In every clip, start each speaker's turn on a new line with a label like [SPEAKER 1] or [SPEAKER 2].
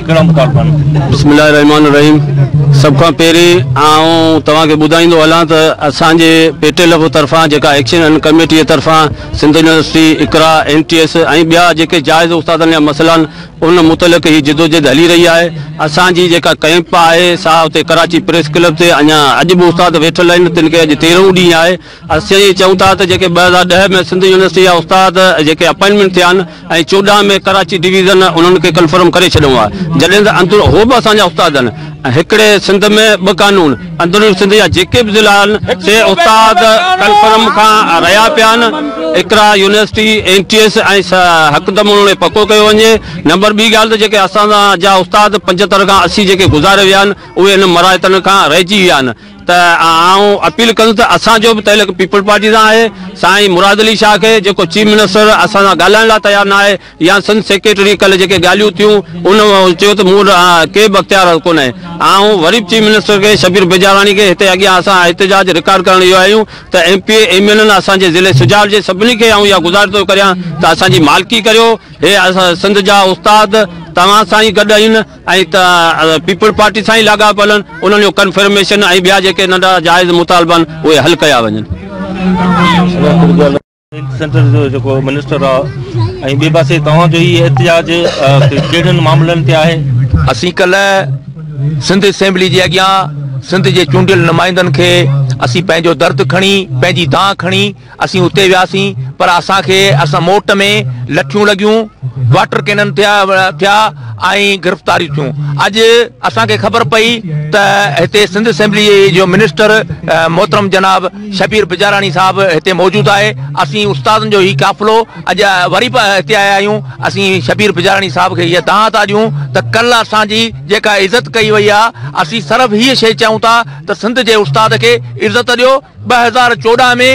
[SPEAKER 1] بسم الله الرحمٰن الرحيم
[SPEAKER 2] سڀ کان پهرين آئون توهان کي ٻڌائيندو هلان ته اسان جي پي ٽي لف طرفان جيڪا ايڪشن ان ڪميٽي طرفان Sindh university, Iqra, N T S ۽ ٻيا جيڪي جائز استادن جا مسئلا آهن ان متعلق هي جدوجهد هلي رهي آهي. اسان جي جيڪا ڪئمپ آهي سا اتي ڪراچي پريس ڪلب تي اڃا اڄ به استاد ويٺل آهن تن کي اڄ تيرهون ڏينهن آهي. اسين ائين چئون ٿا ته جيڪي ٻه هزار ڏهه ۾ سنڌ يونيورسٽي جا استاد جيڪي اپائنٽمينٽ ٿيا آهن ۽ چوڏهن ۾ ڪراچي ڊويزن انهن کي ڪنفرم ڪري ڇڏيو آهي جڏهن ته اندر هو به اسان جا استاد آهن هڪڙي سنڌ ۾ ٻه قانون اندرون سنڌ جا جيڪي به ضلعا آهن سي استاد ڪنفرم کان رهيا پيا آهن Iqra university N T S ۽ هڪدم انهن کي پڪو ڪيو وڃي نمبر ٻي ڳالهه ته جيڪي اسان جا استاد پنجهتر کان اسي جيڪي گذاري ويا آهن اهي انهن مراعتن کان رهجي ويا آهن ته آئون اپيل ڪندس ته اسان جو به تعلق پيپلز پارٽي سان آهي، سائين مراد علي شاهه کي جيڪو چيف منسٽر اسان سان ڳالهائڻ لاء تيار نه آهي يا سنڌ سيڪريٽري ڪلهه جيڪي ڳالهيون ٿيون ان چيو ته مون وٽ ڪي به اختيار ڪونهي آئون وري به چيف منسٽر کي شبير بجاراڻي کي هتي اڳيان اسان احتجاج رڪارڊ ڪرڻ ايو آهيون ته M P A M N N اسان جي ضلعي سجاول جي سڀني کي آئون اها گذارش ٿو ڪريان ته اسان جي مالڪي ڪريو هي اسان سنڌ جا استاد توهان سان ئي گڏ آهن. ائين ته پيپلز پارٽي سان ئي لاڳاپيل آهن، انهن جو ڪنفرميشن ۽ ٻيا جيڪي ننڍڙا جائز مطالبا آهن اهي حل ڪيا وڃن. سينٽر جو جيڪو منسٽر آ ۽ ٻي پاسي توهان جو هي احتجاج ڪهڙن معاملن تي آهي؟ اسين ڪلهه
[SPEAKER 3] سنڌ اسيمبلي جي اڳيان سنڌ جي چونڊيل نمائندن کي اسين پنهنجو درد کڻي پنهنجي دانهن کڻي اسين اتي وياسين پر اسان کي اسان موٽ ۾ لٺيون لڳيون، واٽر ڪينن ٿيا ٿيا ۽ گرفتاريون ٿيون. اڄ اسان کي خبر پئي ته هتي سنڌ اسيمبلي جو منسٽر محترم جناب شبير بجاراڻي صاحب هتي موجود آهي. اسين استادن جو هي قافلو اڄ وري به هتي آيا آهيون. اسين شبير بجاراڻي صاحب کي هيء دانهن ٿا ڏيون ته ڪلهه اسان جي جيڪا عزت ڪئي وئي آهي، اسين صرف هيء شيء چئون ٿا ته سنڌ جي استاد کي عزت ڏيو، ٻه هزار چوڏهن ۾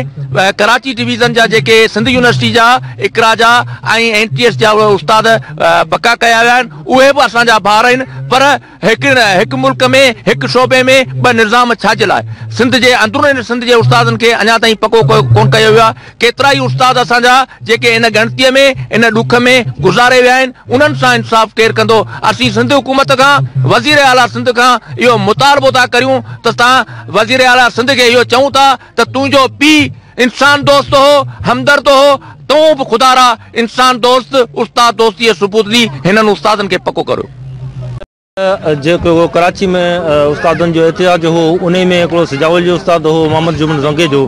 [SPEAKER 3] ڪراچي ڊويزن جا جيڪي سنڌ يونيورسٽي جا اقرا جا ۽ اين ٽي ايس جا اهي استاد پڪا ڪيا ويا آهن اهي به اسان جا ڀار آهن پر هڪ هڪ ملڪ ۾ هڪ شعبي ۾ ٻه نظام ڇا جي لاء سنڌ جي اندرون سنڌ جي استادن کي اڃا تائين پڪو ڪونه ڪيو ويو آهي ڪيترا ئي استاد اسان جا جيڪي ان ڳڻتيء ۾ ان ڏک ۾ گذاري ويا آهن، انهن سان انصاف ڪير ڪندو؟ اسين سنڌ حڪومت کان، وزير اعليٰ سنڌ کان اهو مطالبو ٿا ڪريون ته اسان وزير اعليٰ سنڌ کي اهو چئون ٿا ته تنهنجو پيء انسان دوست هو، همدرد هو، تون به خدا را انسان دوست، استاد دوستيء جو ثبوت ڏي، هنن استادن کي پڪو ڪريو.
[SPEAKER 1] جيڪو ڪراچي ۾ استادن جو احتجاج هو انهي ۾ هڪڙو سجاول جو استاد هو محمد جمن زنگي جو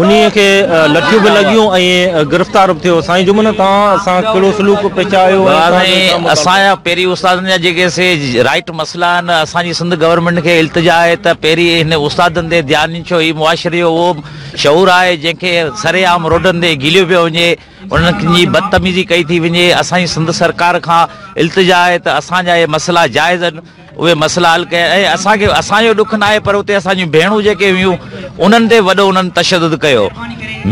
[SPEAKER 1] انهي کي لٺيون به لڳيون ۽ گرفتار به ٿيو سائين جمن توهان سان ڪهڙو سلوڪ پيش آيو ۽ توهان جو ڇا مطالبو اسان
[SPEAKER 4] جا پهرين استادن جا جيڪي سي رائيٽ مسئلا آهن اسان جي سنڌ گورنمينٽ کي التجا آهي ته پهرين هن استادن تي ڌيان ڏين ڇو هي معاشري جو اهو شعور آهي جنهن کي سري عام روڊن تي گهليو پيو وڃي انهن جي بدتميزي ڪئي ٿي وڃي، اسان جي سنڌ سرڪار کان التجا آهي ته اسان جا اهي مسئلا جائز آهن اهي مسئلا حل ڪيا ۽ اسان کي اسان جو ڏک ناهي پر اتي اسان جون ڀيڻون جيڪي هيون انهن تي وڏو انهن تشدد ڪيو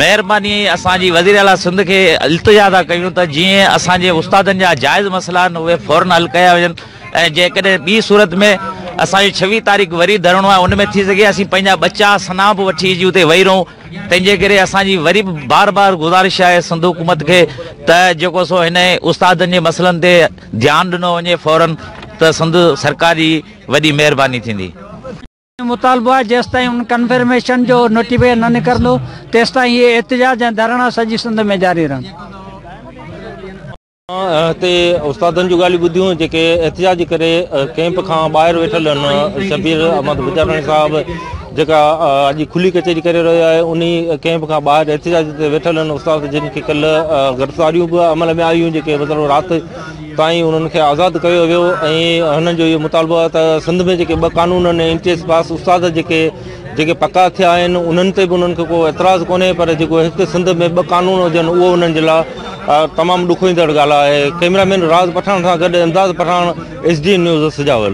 [SPEAKER 4] مهرباني اسان جي وزير اعليٰ سنڌ کي التجا ٿا ڪيون ته جيئن اسان جي استادن جا جائز مسئلا آهن اهي فورن حل ڪيا وڃن ۽ جيڪڏهن ٻي صورت ۾ اسان جو ڇويهه تاريخ وري ڌرڻو آهي ان ۾ ٿي سگهي اسين پنهنجا ٻچا سنا به وٺي اچي اتي ويهي رهون تنهنجي ڪري اسان جي وري به بار بار گذارش آهي سنڌ حڪومت کي ته جيڪو سو هن استادن جي مسئلن تي ڌيان ڏنو وڃي فورا ته سنڌ سرڪار جي وڏي مهرباني ٿيندي. اسان جو مطالبو
[SPEAKER 5] آهي جيستائين ان ڪنفرميشن جو نوٽيفڪيشن نه نڪرندو تيستائين اهي احتجاج ۽ ڌرڻا سڄي سنڌ ۾ جاري رهندو.
[SPEAKER 1] هتي استادن جون ڳالهيون ٻڌيون جيڪي احتجاج ڪري ڪيمپ کان ٻاهر ويٺل ان شبير احمد بجاٽاڻي صاحب جيڪا اڄ کلي ڪچهري ڪري رهيو آهي ان ڪيمپ کان ٻاهر احتجاج تي ويٺل ان استاد جن کي ڪل گرفتاريون به عمل ۾ آيون جيڪي مطلب رات تائين انهن کي آزاد ڪيو ويو ۽ هنن جو اهو مطالبو آهي ته سنڌ ۾ جيڪي ٻه قانون آهن اين ٽي ايس پاس استاد جيڪي جيڪي پڪا ٿيا آهن انهن تي به انهن کي ڪو اعتراض ڪونهي پر جيڪو هڪ سنڌ ۾ ٻه قانون هجن اهو انهن جي لاء اھا تمام ڏکوئيندڙ ڳالھه آھي. ڪئميرا مين راز پٺاڻ سان گڏ Imdad Pathan S D N news Sujawal.